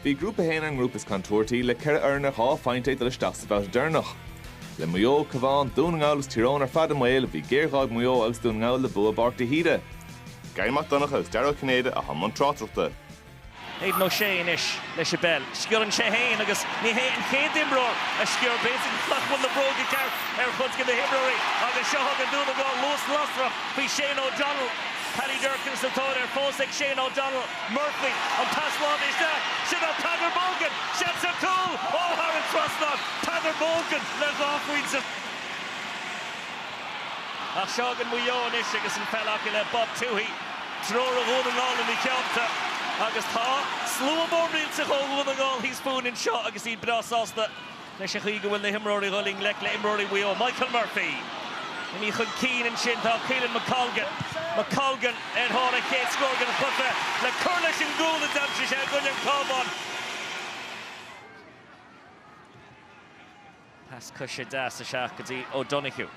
Bhí Grúpa 1 ar an ngrúpa is contúirtí, le ceithre fhoireann ar dhá phointe ag dul isteach sa bhabhta deireanach. Le Maigh Eo, Cabhán, Dún na nGall agus Tír Eoghain ar fad i mbaol, bhí géarghá ag Maigh Eo agus Dún na nGall le bua i bPáirc de hÍde. Garry Mac Donncha agus Dara Ó Cinnéide atá i mbun tráchtaireachta. Aidan O'Shea anois leis an bpeil. Sciorrann sé féin agus ní hé an chéad imreoir a sciorr. B'fhéidir nach bhfuil na bróga ceart ar chuid de na himreoirí agus seo chugainn Dún na nGall luas lasrach faoi Shane O'Donnell. Paddy Durcan sa tóir air, fós ag Shane O'Donnell. Murphy, an pas láimhe isteach, sin é Peadar Mogan! Seans ar chúl! Ó, thar an trasnán! Peadar Mogan le dhá phointe. Ach seo chugainn Maigh Eo anois agus an pheil acu le Bob Tuohy, triúr ó Dhún na nGall ina dteannta, agus tá slua mór millteach ó Dhún na nGall thíos fúinn anseo agus iad breá sásta. Leis an gcaoi go bhfuil na himreoirí dhul i ngleic le imreoirí Mhaigh Eo, Michael Murphy imithe chun cinn ansin, tá Caolan McColgan, McColgan ar thóir a chéad scór den chluiche le cur leis an gcúl a d'aimsigh sé i gcoinne an Chabháin. Pas coise deas isteach go dtí O'Donoghue.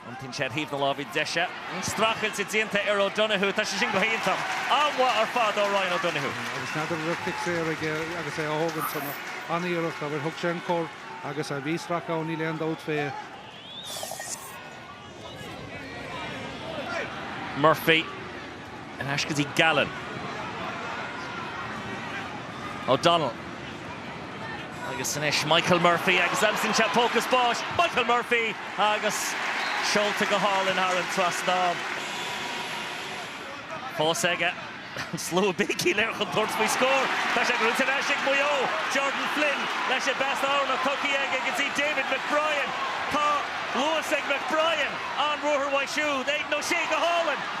Iontaíonn sé ar thaobh na láimhe deise. Streachailt déanta ar O'Donoghue. Tá sé sin go hiontach. An-mhaith ar fad ó Ryan O'Donoghue. Agus n'fheadar a raibh cic saor aige agus é á thógaint san ach an-iarracht abair thug sé an cor agus a bhí sracadh ann níl aon dabht fé. Murphy. ar ais go dtí Gallen. O'Donnell agus anois Michael Murphy agus aimsíonn sé póca spáis Michael Murphy agus seolta go hálainn thar an trasnán. Fós aige an slua ag béicíl air chun tabhairt faoi scór. Tá sé gnóite ar ais ag Maigh Eo. Jordan Flynn leis an bpas anonn tugtha aige go dtí David McBrien. Tá luas ag McBrien an ruathar uaidh siúd. Aidan O'Shea go hálainn.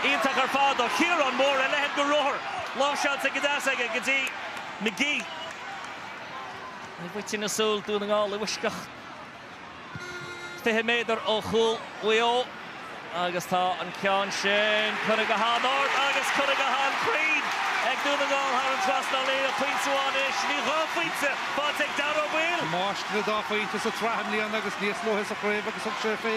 Iontach ar fad ó Chiarán Moore, a leithéid de ruathar. Lainseáilte go deas aige go dtí McGee. I bhfaiteadh na súl, Dún na nGall i bhfoisceacht 20 méadar ó chúl Mhaigh Eo agus tá an ceann sin curtha go han-ard agus curtha go han-chruinn ag Dún na nGall thar an trasnán le haghaidh pointe amháin anois. Ní dhá phointe faighte ag Dáire Ó Baoill. Máistir na dá phointe sa tsraith i mbliana agus níos luaithe sa chraobh agus thug sé fé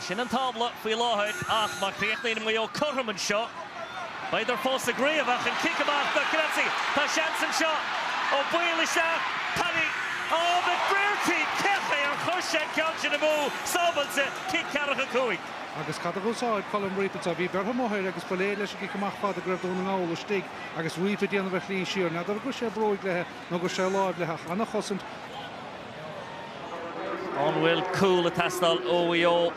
Sin an tábla faoi láthair ach má chríochnaíonn Maigh Eo cothrom anseo beadar fós sa gcraobh ach an cic amach do Grazzi. Tá seans anseo ó bhaol isteach. Paddy Oh McBrearty! Cén chaoi ar chuir sé an ceann sin amú sábháilte, cic ceathracha cúig. Agus cad a dh'úsáid Colm Reape anseo? Bhí bearna mhór thiar agus ba léir leis an gcic amach fada go raibh Dún na nGall istigh agus Reape ag déanamh a shlí siar. N'fheadar gur sé bróig leithe nó gur sé láimh leithe ach an-chosaint. An bhfuil cúl ag teastáil ó Mhaigh Eo?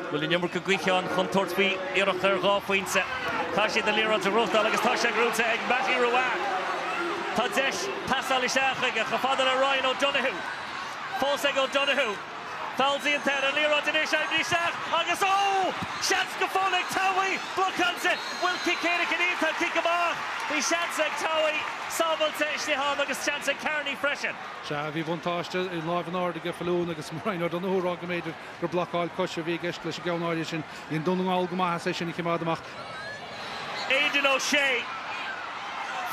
Bhfuil an iomarca gaoithe ann chun tabhairt faoi iarracht ar dhá phointe? Tá siad an liathróid a ghnóthachtáil agus tá sé gnóite ag Mattie Ruane. Tá deis teastáil isteach chuige, chomh fada le Ryan O'Donoghue. Fós ag O'Donoghue. Feall déanta air, an liathróid anois, Aindrias isteach agus ó! Seans go fóill ag Towey, Bruchhanse, bhfuil cic éirice ann? Níl, tá an cic amach, bhí seans ag Towey, sábháilte istigh ann agus seans ag Carney freisin. Sea, bhí buntáiste lámh in airde aige Faloon agus Ryan O'Donoghue a rá go mb'fhéidir gur blocáil coise a bhí i gceist leis an gceann áirithe sin. Dhein Dún na nGall go maith as é sin a chimeád amach. Aidan O'Shea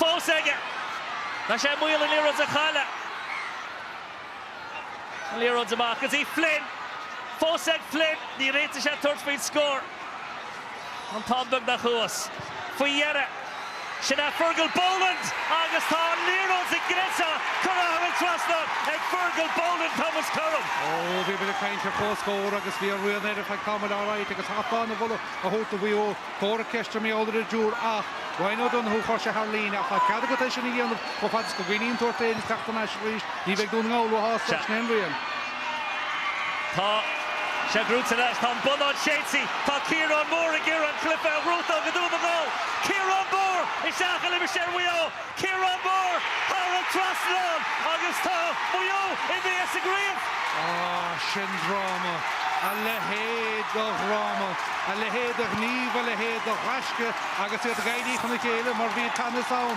fós aige. Tá sé i mbaol an liathróid a chailleadh. Liathróid amach go dtí Flynn. Fós ag Flynn. Níor fhéad sé tabhairt faoin scór. An t-am beagnach thuas. Faoi dheireadh. Sin é Fergal Boland agus tá an liathróid sa gcreasa curtha thar an trasnán ag Fergal Boland, tá muid cothrom. Ó, bhí mé ag caint ar chomhscór agus bhí an rian air ar feadh tamaill alright agus caithfear an moladh a thabhairt do Mhaigh Eo. Comhartha ceiste b'fhéidir ar dtús ach Ryan O'Donoghue chuir sé thar líne, ach tá cead agat é sin a dhéanamh chomh fad is go gcoinníonn tú ort é agus teacht thar n-ais arís. Ní bheidh Dún na nGall ró-shásta leis in aon rian. Tá sé gnóite anois, tá an bonnán séidte, tá Ciarán Moore ag iarraidh an cluiche a ghnóthú do Dún na nGall. Ciarán Moore isteach i limistéar Mhaigh Eo. Ciarán Moore thar an trasnán agus tá Maigh Eo imithe as an gcraobh. Sin dráma! A leithéid de dhráma! A leithéid de ghníomh, a leithéid de ghaisce agus iad ag éirí chun a chéile mar bhí teannas ann.